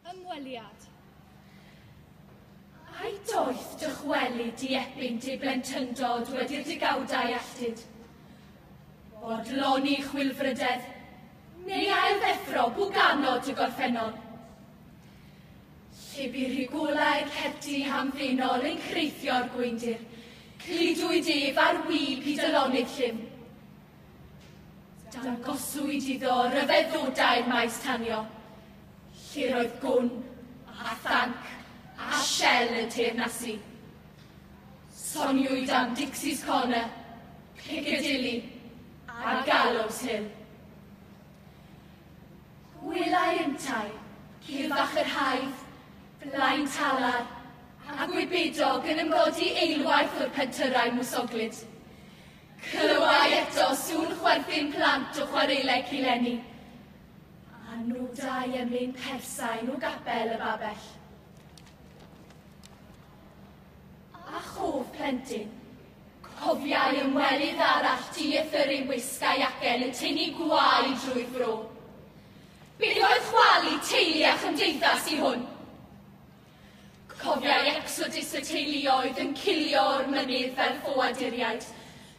Ymweliad. Ai doeth dychwelyd di epynt ei blentyndod wedi'r degawdau alltud? Bodloni chwilfrydedd, neu ailddeffro bwganod y gorffennol? Llifurigwlau ceti hamddenol yn creithio'r gweindir, cludwyd ef ar wib i dylonydd llym. Dangoswyd iddo ryfeddw dair maes tanio, lle roedd gwn a thanc a shell yn teyrnasu. Soniwyd am Dixie's Corner, Piccadilly a Gallows Hill. Gwelai yntau Cilfach yr Haidd, Blaen Talar a Gwybedog yn ymgodi eilwaith o'r pentyrrau mwsoglyd. Clywai eto sŵn chwerthin plant o chwaraeleg Cilenni, a nodai ymyn persain o gapel y babell. A chof plentyn, cofiai ymwelydd arall di y ffyrru wisg a'i acen yn tynnu gwau drwy'r fro. Beth oedd chwalu teulu a chymdeithas i hwn? Cofiai ecsodus y teuluoedd yn cilio o'r mynydd fel ffoaduriaid,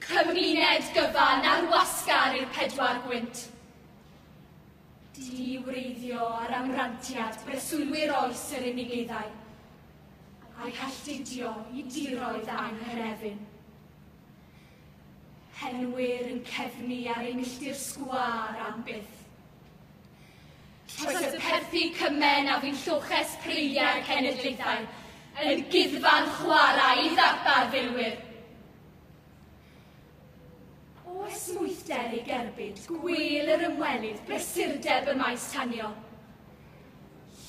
cymuned gyfan ar wasgar i'r pedwar gwynt. Di-wreiddio ar amrantiad breswylwyr oes yr unigeiddau, a'i halltudio i diroedd anghynefin. Henwyr yn cefnu ar eu milltir sgwâr am byth. Tase perthi cymen a fu'n lloches preiliau'r cenedlaethau yn guddfan chwarae i ddarpar filwyr. O esmwythder ei gerbyd gwêl yr ymwelydd brysurdeb y maes tanio.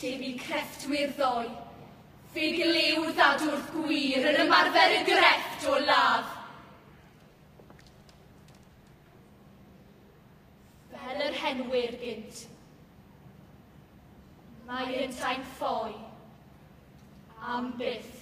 Lle bu crefftwyr ddoe, fe glyw ddadwrth gwir yr ymarfer y grefft o ladd. Fel yr henwyr gynt. Mae yntau'n ffoi. Am byth.